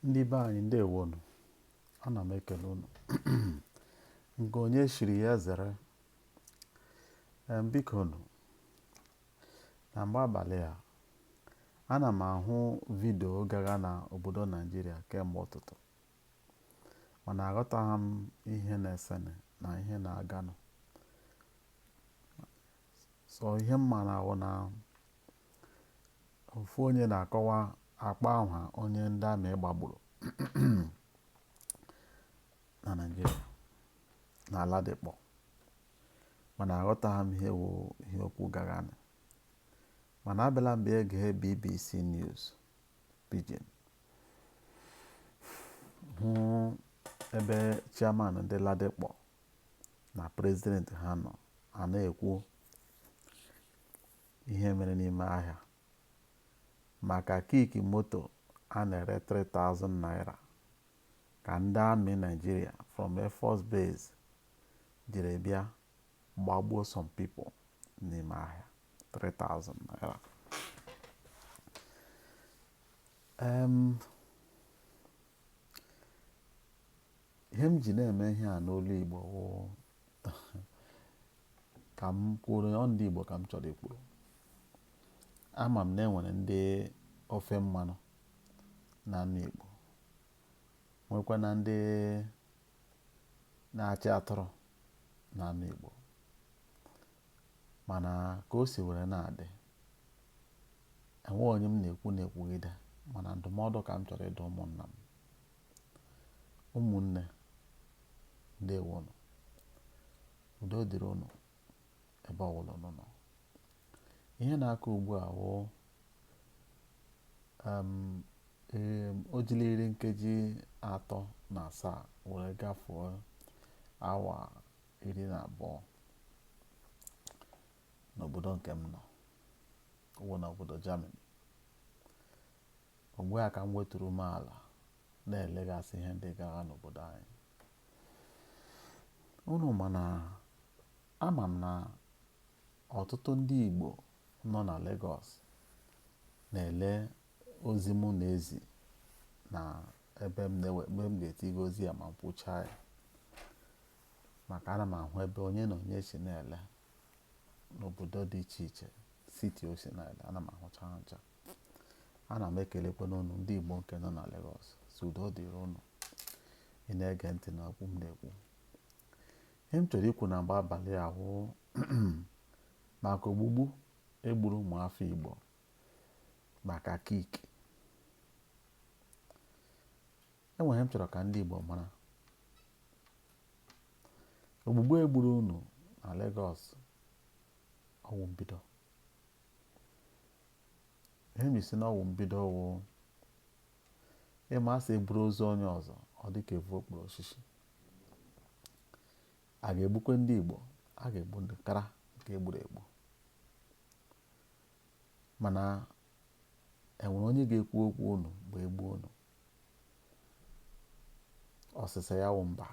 ndị be anyị ndewonu ana m ekele unu nke onye chiri ya zere biko nụ na mgbe abalị a ana m ahụ vidio gagha na obodo naijiria kemgbe ụtụtụ mana aghọtaghị m ihe na-esenụ na ihe na-aganụ so ihe m mara wụ na ofu onye na-akọwa akpọ aha onye ndị amị gbagburu na Naịjirịa na Ladipo mana aghọtaghị m ihe wụ ihe okwu gaghanụ mana abịala m bịa gee BBC News Pidgin hụ ebe chairman ndị Ladipo na prezident ha nọ a na-ekwu ihe mere n'ime ahịa maka kick moto a na-ere 3,000 naira ka ndị amị Naịjirịa from Air Force Base jiri bịa gbagbuo some people n'ime ahịa 3,000 naira ihe m ji na-eme ihe a n'olu Igbo wụ ka m kwuru ọ ndị Igbo ka m chọrọ ikwuru ama m na enwere ndị ofe mmanụ na-anụ Igbo nwekwa na ndị na-achị atụrụ na-anụ Igbo mana ka o si were na-adị enweghị onye m na-ekwu na-ekwugide mana ndụmọdụ ka m chọrọ ịdụ ụmụnna m ụmụnne ndewonụ udo dịrị unu ebe ọbụla unu nọ ihe na-akụ ugbu a wụ o jiri iri nkeji atọ na asaa were gafuo awa iri na abụọ n'obodo nke m nọ wụ n'obodo Germany Mgbe a ka m weturu ume ala na-elegasị ihe ndị gagha n'obodo anyị. Unu ma na ama m na ọtụtụ ndị Igbo nọ na Legọs na-ele ozi mụ na-ezi na ebe m na-ewe mgbe m ga-etiga ozi a ma m kwuchaa ya maka ana m ahụ ebe onye na onye si na-ele n'obodo dị iche iche siti o si na-ele ana m ahụcha ha ncha ana m ekelekwanụ ụnụ ndị Igbo nke nọ na Lagos sị udo dịrị ụnụ ị na-ege ntị na okwu m na-ekwu ihe m chọrọ ikwu na mgbe abalị a wụ maka ogbugbu egburu ụmụafọ Igbo maka kick enwere ihe m chọrọ ka ndị Igbo mara ogbugbu egburu unu na Lagos ọ wụ mbido ihe m ji sị na ọ wụ mbido ọ wụ ị ma a sị e buru ozu onye ọzọ ọ dị ka e vu okpuru osisi a ga-egbukwe ndị Igbo a ga-egbu ndị kara nke egburu egbu mana enwere onye ga-ekwu okwu unu bụ egbu unu ọsịsa ya wụ mba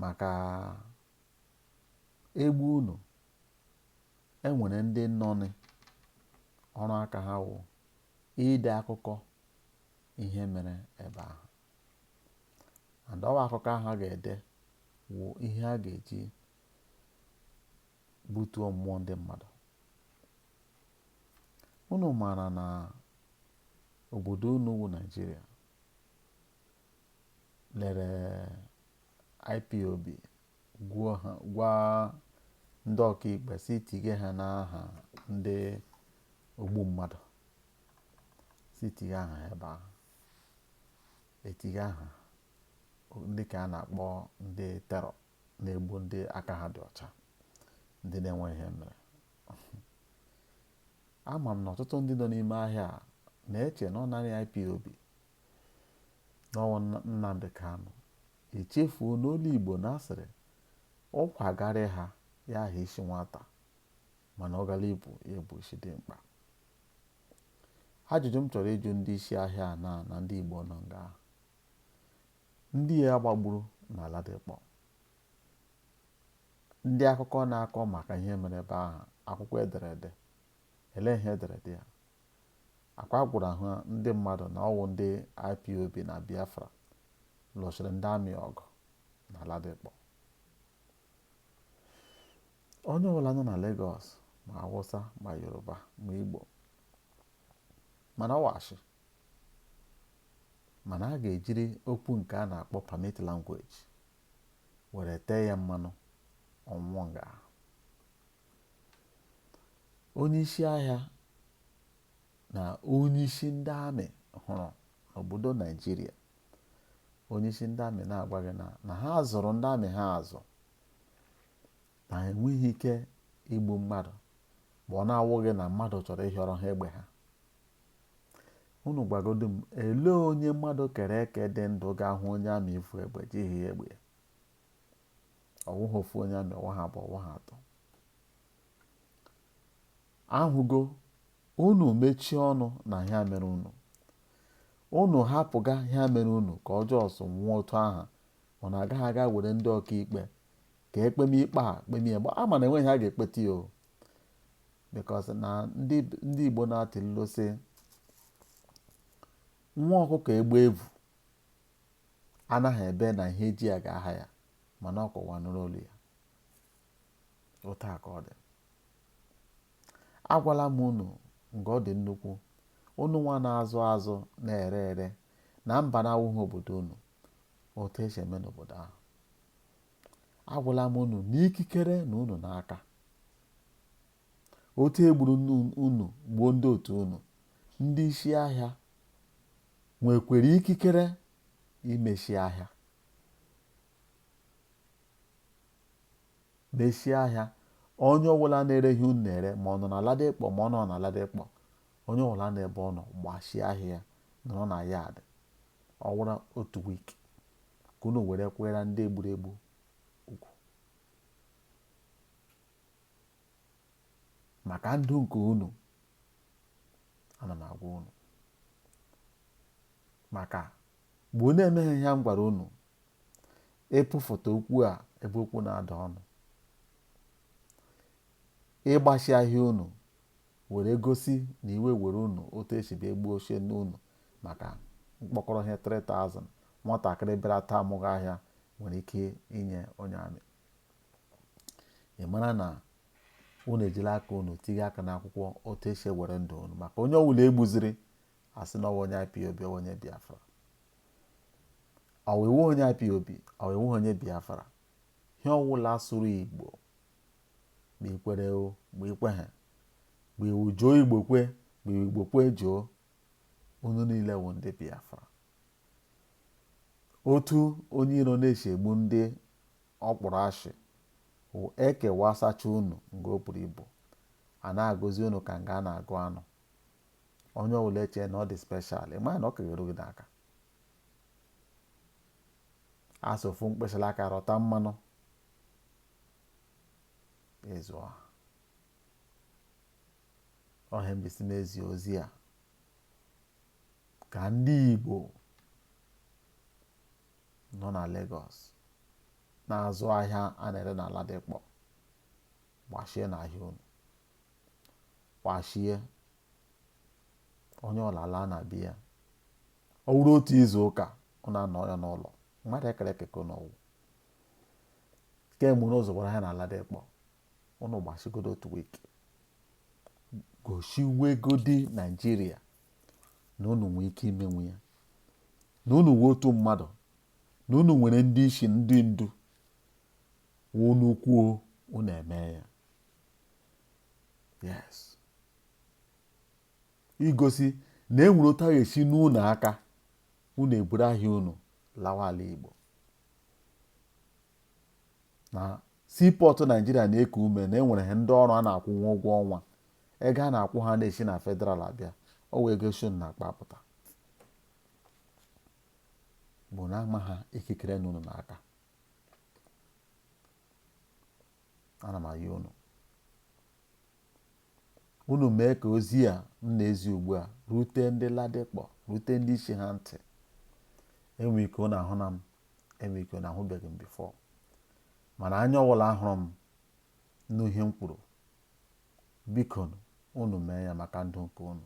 maka egbu unu e nwere ndị nọnị ọrụ aka ha wụ ide akụkọ ihe mere ebe ahụ and ọ wụ akụkọ ahụ a ga-ede wụ ihe a ga-eji butuo mmụọ ndị mmadụ unu maara na obodo unu wụ Naịjirịa lere IPOB gwuo ha gwa ndị ọkaikpe sị tige ha n'aha ndị ogbu mmadụ sị tige aha ha ebe ahụ etige aha ndị ka a na-akpọ ndị terror na-egbu ndị aka ha dị ọcha ndị na-enwe ihe mere ama m na ọtụtụ ndị nọ n'ime ahịa a na-eche na ọ naanị IPOB na ọ wụ Nnamdị Kanụ echefuo n'olu Igbo na a sịrị ụkwa garị ha ya aha isi nwata mana ọ gara ibu ya bụ isi dimkpa ajụjụ m chọrọ ịjụ ndị isi ahịa a na na ndị Igbo nọ nga ahụ ndị a gbagburu na Ladipọ ndị akụkọ na-akọ maka ihe mere ebe ahụ akwụkwọ ederede ele ihe ederede ya Akwa gwara ọha ndị mmadụ na ọ wụ ndị IPOB na Biafra lụsịrị ndị army ọgụ na Ladipọ. Onye ọbụla nọ na Legọs ma Awụsa ma Yoruba ma Igbo ma na ọ wụ ashị mana a ga-ejiri okwu nke a na-akpọ permit language were tee ya mmanụ ọnwụnwa nga onyeisi ahịa na onyeisi ndị amị hụrụ n'obodo naijiria onyeisi ndị amị na-agwa gị na ha zụrụ ndị amị ha azụ na ha enweghị ike igbu mmadụ ma ọ na-awụghị na mmadụ chọrọ ịhịọrọ ha egbe ha unu gwagodu m elee onye mmadụ kere eke dị ndụ ga-ahụ onye amị ivu egbe jighị egbe ọwụghị ofu onye amị ọwụghị abụọ ọwụghị atọ ahụgo unu mechie ọnụ n'ihe mere unu unu hapụga ihe mere unu ka ọ just nwụọ otu ahụ unu agaghị aga were ndị ọkaikpe ka e kpeme ikpe a kpemie ya ma na enweghị ihe a ga-ekpeta ya o because na ndị Igbo na-atụ ilu sị nwa ọkụkọ egbe vu anaghị ebe na ihe ji ya ga-aha ya mana ọ ka ụwa nụrụ olu ya otu a ka ọ dị agwala m unu nke ọ dị nnukwu unu nwa na-azụ azụ na-ere ere na mba na-awụghị obodo unu otu esi eme n'obodo ahụ agwala m unu na ikikere nọ unu n'aka otu e gburu unu gbuo ndị otu unu ndị isi ahịa nwekwere ikikere imechi ahịa mechie ahịa onye ọbụla na-ere ihe unu na-ere ma ọ nọ na Ladipo ma ọ nọ na Ladipo onye ọbụla n'ebe ọ nọ gbachie ahịa ya nọrọ na yard ọ wụrụ otu week ka unu were kwuere ndị e gburu egbu okwu maka ndụ nke unu ana m agwa unu maka mgbe unu emeghị ihe m gwara unu ivufụta okwu a ebe okwu na-ada ọnụ ịgbachi ahịa unu were gosi na iwe were unu otu esi bịa gbuo ochie n'unu maka mkpọkọrọ ihe 3000 nwatakịrị bịara taa amụghị ahịa nwere ike inye onye amị ị mara na unu ejila aka unu tinye aka n'akwụkwọ otu esi ewere ndụ unu maka onye ọwụla e gbuziri a sị na ọ wụ onye IPOB ọ wụ onye Biafra ma ị wụghị onye IPOB ma ị wụghị onye Biafra ihe ọwụla asụrụ Igbo ma i kwere o ma i kweghị ma ị wụ jụọ Igbo kwe ma ị wụ Igbo kwe jụọ unu niile wụ ndị Biafra otu onye iro na-esi egbu ndị ọ kpụrụ ashị wụ e kewasacha unu nga o buru ibu a na-agụzi unu ka nga a na-agụ anụ onye ọbụla echee na ọ dị special ị maghị na ọ ka ga-eru gị n'aka asị ofu mkpịsịla aka rụta mmanụ ezuo ọha ọhịa mbisi na-ezi ozi a ka ndị Igbo nọ na Legọs na-azụ ahịa a na-ere na Ladipo gbachienụ ahịa unu gbachie onye ọwụla laa na be ya ọ wụrụ otu izu ụka ọ na-anọ ya n'ụlọ mmadụ e kere eke n'ọwụ kemgbe n'ụzọ gwara ya na Ladipo unu gbasigodu otu week gosiwegodi naijiria na unu nwee ike imenwu ya na unu nwee otu mmadụ na unu nwere ndị isi ndị ndu unu kwuo unu eme ya yes igosi na e nwere otu a ga-esi nuo unu aka unu eburu ahịa unu lawa ala igbo na seaport Naijiria na-eku ume na e nwere ha ndị ọrụ a na-akwụnwu ụgwọ ọnwa ego a na-akwụ ha na-esi na federal abịa ọ wụ ego si unu n'akpa apụta bụ na ama ha ikikere nọ unu n'aka ana m ayọ unu Unu mee ka ozi a m na-ezi ugbu a rute ndị Ladipo, rute ndị isi ha ntị. Enwe ike unu ahụna m, enwe ike unu ahụbeghị m before. Mana anya ọwụla hụrụ m nụ ihe m kwuru, biko unu mee ya maka ndụ nke unu.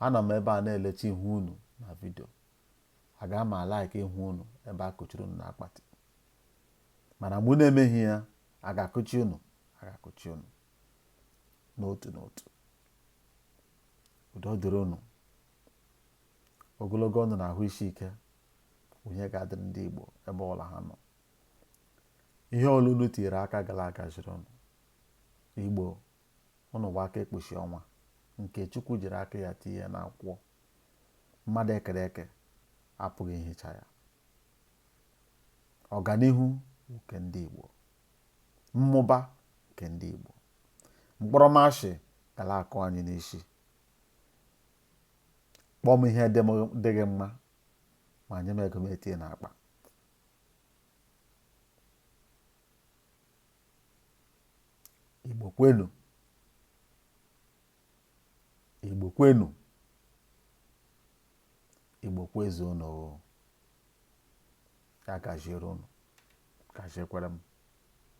Anọ m ebe a na-elecha ihu unu na video. Aga m alike ịhụ unu ebe a kụchiri unu n'akpati. Mana mgbe unu emeghị ya, a ga-akụchi unu, a ga-akụchi unu. n'otu n'otu udo dịrị unu ogologo ndụ na ahụ isi ike ihe ga-adịrị ndị Igbo ebe ọwụla ha nọ ihe ọwụla unu tinyere aka ga na-agaziri unu Igbo unu wụ aka ekpuchi ọnwa nke Chukwu jiri aka ya tinye n'akwụkwọ mmadụ e kere eke apụghị ihicha ya ọganihu nke ndị Igbo mmụba nke ndị Igbo mkpọrọmashị ga na-akụ anyị n'isi kpọọ m ihe dịghị mma ma nye m ego m etinye n'akpa Igbo kwenu Igbo kwenu Igbo kwezuonu ya gaziere unu gaziekwara m